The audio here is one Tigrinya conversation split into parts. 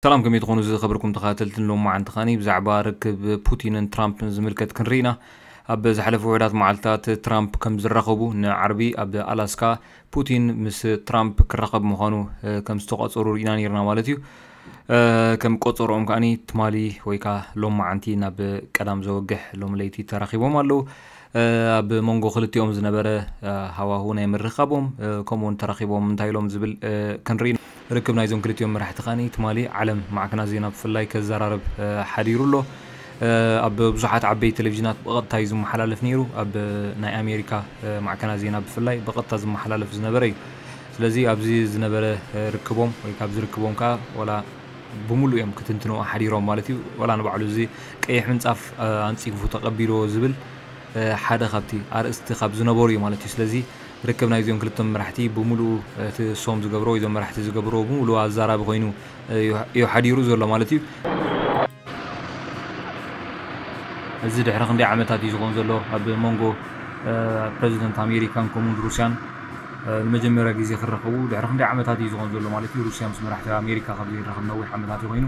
ሰላም ከመይ ትኾኑ ዝኸበርኩም ተኸታተልትን ሎማዓንቲ ኻኒ ብዛዕባ ርክብ ፑቲንን ትራምፕን ዝምልከት ክንርኢ ኢና ኣብ ዝሓለፉ ውሑዳት መዓልትታት ትራምፕ ከም ዝራኸቡ ንዓርቢ ኣብ ኣላስካ ፑቲን ምስ ትራምፕ ክራኸብ ምዃኑ ከም ዝተቋፀሩ ርኢና ነርና ማለት እዩ ከም ቆፀሮኦም ከዓኒ ትማሊ ወይ ከዓ ሎማዓንቲ ናብ ቀዳም ዘወግሕ ሎም ለይቲ ተራኺቦም ኣለዉ ኣብ መንጎ ክልቲኦም ዝነበረ ሃዋሁ ናይ ምርኻቦም ከምኡ ውን ተራኺቦም እንታይ ኢሎም ዝብል ክንርኢ ርክብ ናይዞም ክልቲኦም መራሕቲ ከኣ ትማሊ ዓለም ማዕከናት ዜና ብፍላይ ከዘራርብ ሓዲሩ ኣሎ ኣብ ብዙሓት ዓበይቲ ቴሌቭዥናት ብቐጥታ እዩ ዝመሓላለፍ ነይሩ ኣብ ናይ ኣሜሪካ ማዕከናት ዜና ብፍላይ ብቐጥታ ዝመሓላለፍ ዝነበረ እዩ ስለዚ ኣብዚ ዝነበረ ርክቦም ወይ ካብዚ ርክቦም ከኣ ወላ ብምሉኡ እዮም ክትንትንዎ ሓዲሮም ማለት እዩ። ወላ ንባዕሉ እዚ ቀይሕ ምንጻፍ ኣንጺፉ ተቐቢልዎ ዝብል ሓደ ካብቲ ኣርእስቲ ካብ ዝነበሩ እዩ ማለት እዩ። ስለዚ ርክብ ናይ እዚኦም ክልተ መራሕቲ ብምሉኡ እቲ እሶም ዝገብርዎ ወይ እዞም መራሕቲ ዝገብርዎ ብምሉኡ ኣዛራቢ ኮይኑ እዩ ሓዲሩ ዘሎ ማለት እዩ። እዚ ድሕሪ ክንደይ ዓመታት እዩ ዝኸውን ዘሎ ኣብ መንጎ ፕረዚደንት ኣሜሪካን ከምኡውን ሩስያን ንመጀመርያ ግዜ ክረኸቡ ድሕሪ ክንደይ ዓመታት እዩ ዝኾን ዘሎ ማለት እዩ ሩስያ ምስ መራሕቲ ኣሜሪካ ካብ ዘይራኸብ ነዊሕ ዓመታት ኮይኑ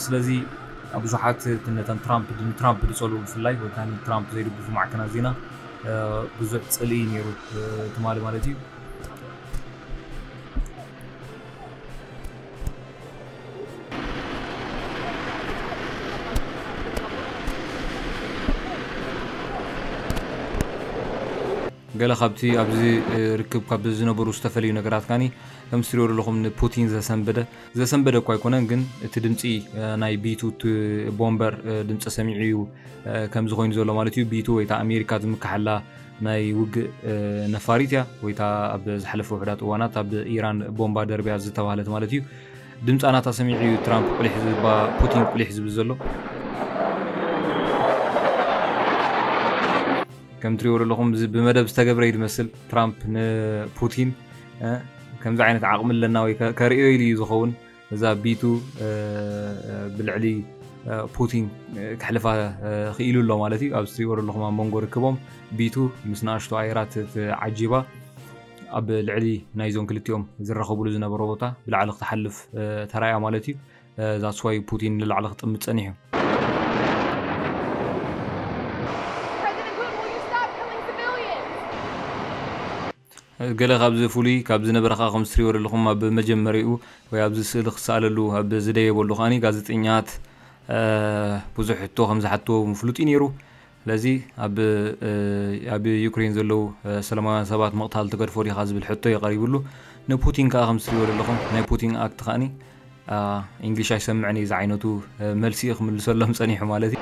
ስለዚ ብዙሓት ነተን ትራምፕ ንትራምፕ ዝፀልኡ ብፍላይ ወይ ከዓ ንትራምፕ ዘይድግፉ ማዕከናት ዜና ብዙሕ ፅልኢ ነይሩ ትማሊ ማለት እዩ ገለ ካብቲ ኣብዚ ርክብ ካብ ዝነበሩ ዝተፈለዩ ነገራት ካኒ ከምዚ ትሪኦ ዘለኹም ንፑቲን ዘሰንበደ ዘሰንበደ እኳ ኣይኮነን ግን እቲ ድምፂ ናይ ቢቱ ቦምበር ድምፂ ሰሚዑ እዩ ከምዚ ኮይኑ ዘሎ ማለት እዩ ቢቱ ወይ ኣሜሪካ ዝምካሐላ ናይ ውግእ ነፋሪት እያ ወይ እታ ኣብ ዝሓለፈ ውሕዳት እዋናት ኣብ ኢራን ቦምባ ደርብያ ዝተባህለት ማለት እዩ ድምፃ ናታ ሰሚዑ እዩ ትራምፕ ቁሊሕ ዝባ ፑቲን ቁሊሕ ዝብል ዘሎ ከም ትሪእዎ ዘለኹም እዚ ብመደብ ዝተገብረ እዩ ዝመስል ትራምፕ ንፑቲን ከምዚ ዓይነት ዓቕሚ ኣለና ወይ ከርእዮ ኢሉ እዩ ዝኸውን እዛ ቢቱ ብልዕሊ ፑቲን ክሕልፋ ክኢሉ ኣሎ ማለት እዩ ኣብዚ ትሪእዎ ዘለኹም ኣብ መንጎ ርክቦም ቢቱ ምስ ንኣሽቱ ኣየራት ተዓጂባ ኣብ ልዕሊ ናይዞም ክልቲኦም ዝራኸብሉ ዝነበረ ቦታ ብላዕሊ ክትሓልፍ ተራእያ ማለት እዩ እዛ ስዋይ ፑቲን ንላዕሊ ክጥምት ጸኒሑ ገለ ካብዚ ፍሉይ ካብ ዝነበረኻ ከም ዝትሪእዎ ዘለኹም ኣብ መጀመሪኡ ወይ ኣብዚ ስእሊ ክሰኣለሉ ኣብ ዝደየበሉ ከኣ ጋዜጠኛት ብዙሕ ሕቶ ከም ዝሓትዎ ምፍሉጥ እዩ ነይሩ። ስለዚ ኣብ ኣብ ዩክሬን ዘለዉ ሰላማውያን ሰባት ምቕታል ትገድፎ ዲኻ ዝብል ሕቶ እዩ ቀሪብሉ። ንፑቲን ከኣ ከም ዝትሪእዎ ዘለኹም ናይ ፑቲን ኣክት ከኣኒ ኢንግሊሽ ኣይሰምዕን እዩ ዝዓይነቱ መልሲ እዩ ክምልሰሎም ጸኒሑ ማለት እዩ።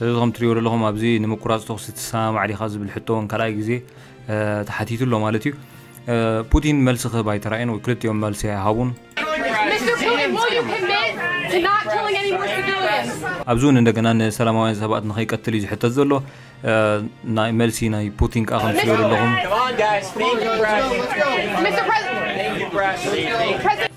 እዚ ከም ትሪእዎ ዘለኹም ኣብዚ ንምቁራጽ ተኹሲ ትሰማማዕ ዲኻ ዝብል ሕቶ እውን ካልኣይ ግዜ ተሓቲቱ ኣሎ ማለት እዩ። ፑቲን መልሲ ክህብ ኣይተራእዮን ወይ ክልቲኦም መልሲ ኣይሃቡን። ኣብዚ እውን እንደገና ንሰላማውያን ሰባት ንኸይቀትል እዩ ዝሕተት ዘሎ። ናይ መልሲ ናይ ፑቲን ከኣ ከም ትሪእዎ ዘለኹም።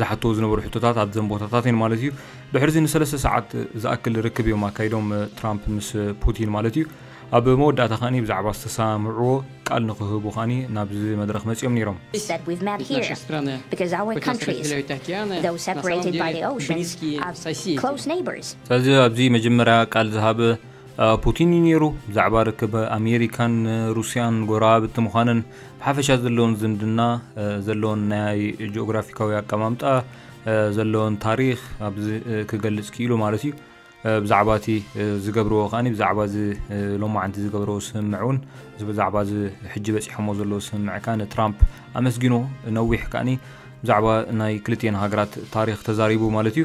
ዝሓትዎ ዝነበሩ ሕቶታት ኣብዘን ቦታታት እየን ማለት እዩ። ድሕርዚ ንሰለስተ ሰዓት ዝኣክል ርክብ እዮም ኣካይዶም ትራምፕ ምስ ፑቲን ማለት እዩ። ኣብ መወዳእታ ከኣኒ ብዛዕባ ዝተሰማምዕዎ ቃል ንክህቡ ከኣኒ ናብዚ መድረኽ መጺኦም ነይሮም። He said, We've met here because our countries, though separated by the ocean, are close neighbors. ስለዚ ኣብዚ መጀመርያ ቃል ዝሃበ ፑቲን እዩ ነይሩ። ብዛዕባ ርክብ ኣሜሪካን ሩስያን ጎረባብቲ ምዃነን ብሓፈሻ ዘለዎን ዝምድና ዘለዎን ናይ ጂኦግራፊካዊ ኣቀማምጣ ዘለዎን ታሪክ ኣብዚ ክገልጽ ክኢሉ ማለት እዩ ብዛዕባ እቲ ዝገብርዎ ከኣ ብዛዕባ እዚ ሎማዓንቲ ዝገብርዎ ስምምዕ እውን ብዛዕባ እዚ ሕጂ በፂሖሞ ዘለዎ ስምምዕ ከዓ ንትራምፕ ኣመስጊኑ ነዊሕ ከዓኒ ብዛዕባ ናይ ክልትኤን ሃገራት ታሪክ ተዛሪቡ ማለት እዩ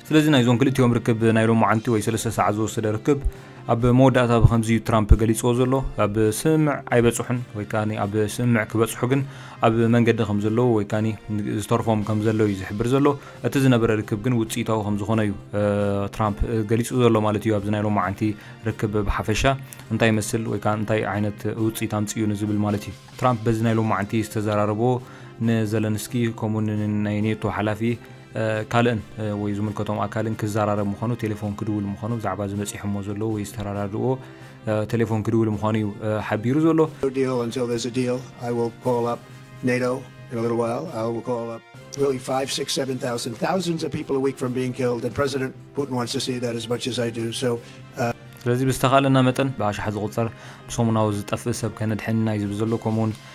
ስለዚ ናይዞም ክልቲኦም ርክብ ናይ ሎማዓንቲ ወይ ሰለስተ ሰዓት ዝወሰደ ርክብ ኣብ መወዳእታ ብከምዚ እዩ ትራምፕ ገሊፅዎ ዘሎ፣ ኣብ ስምምዕ ኣይበፅሑን ወይ ከኣ ኣብ ስምምዕ ክበፅሑ ግን ኣብ መንገዲ ከምዘለዉ ወይ ከኣ ዝተርፎም ከምዘሎ እዩ ዝሕብር ዘሎ። እቲ ዝነበረ ርክብ ግን ውፅኢታዊ ከምዝኾነ እዩ ትራምፕ ገሊፁ ዘሎ ማለት እዩ። ኣብዚ ናይ ሎማዓንቲ ርክብ ብሓፈሻ እንታይ ይመስል ወይ ከኣ እንታይ ዓይነት ውፅኢት ኣምፂኡ ንዝብል ማለት እዩ። ትራምፕ በዚ ናይ ሎማዓንቲ ዝተዘራረቦ ንዘለንስኪ ከምኡውን ናይ ኔቶ ሓላፊ፣ ካልእን ወይ ዝምልከቶም ኣካልን ክዘራረብ ምዃኑ ቴሌፎን ክድውል ምዃኑ ብዛዕባ ዝበፂሖሞ ዘለዎ ወይ ዝተረዳድእዎ ቴሌፎን ክድውል ምዃኑ እዩ ሓቢሩ ዘሎ። ስለዚ ብዝተኻእለና መጠን ብኣሽሓት ዝቑፀር ብሰሙናዊ ዝጠፍእ ሰብ ከነድሕን ኢና እዩ ዝብል ዘሎ። ከምኡ'ውን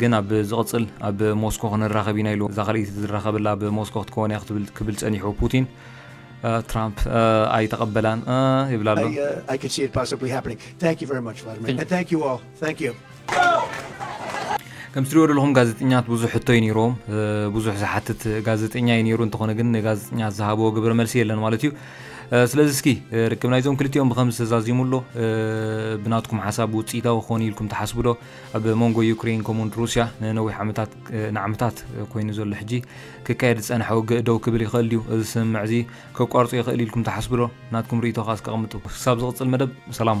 ግን ኣብ ዝቕጽል ኣብ ሞስኮ ክንራኸብ ኢና ኢሉ። እዛ ካልኣይቲ ዝራኸበላ ኣብ ሞስኮ ክትከውን እያ ክትብል ክብል ጸኒሑ ፑቲን ትራምፕ ኣይተቐበላን ይብላ ኣሎ። I could see it possibly happening. Thank you very much, Vladimir. And thank you all. Thank you. ከም ትሪኦ ዘለኹም ጋዜጠኛት ብዙሕ ሕቶ እዩ ነይሮም ብዙሕ ዝሓትት ጋዜጠኛ እዩ ነይሩ እንተኾነ ግን ጋዜጠኛ ዝሃበዎ ግብረ መልሲ የለን ማለት እዩ ስለዚ እስኪ ርክብ ናይዞም ክልቲኦም ብከምዚ ተዛዚሙ ኣሎ ብናትኩም ሓሳብ ውፅኢታዊ ክኾን ኢልኩም ትሓስቡ ዶ ኣብ መንጎ ዩክሬን ከምኡውን ሩስያ ንነዊሕ ዓመታት ንዓመታት ኮይኑ ዘሎ ሕጂ ክካየድ ዝጸንሐ ውግእ ደው ክብል ይኽእል ድዩ? እዚ ስምምዕ እዚ ከቋርጾ ይኽእል ኢልኩም ትሓስቡ ዶ? ናትኩም ርእይቶ ከኣ እስከ ኣቐምጡ። ክሳብ ዝቕጽል መደብ ሰላም።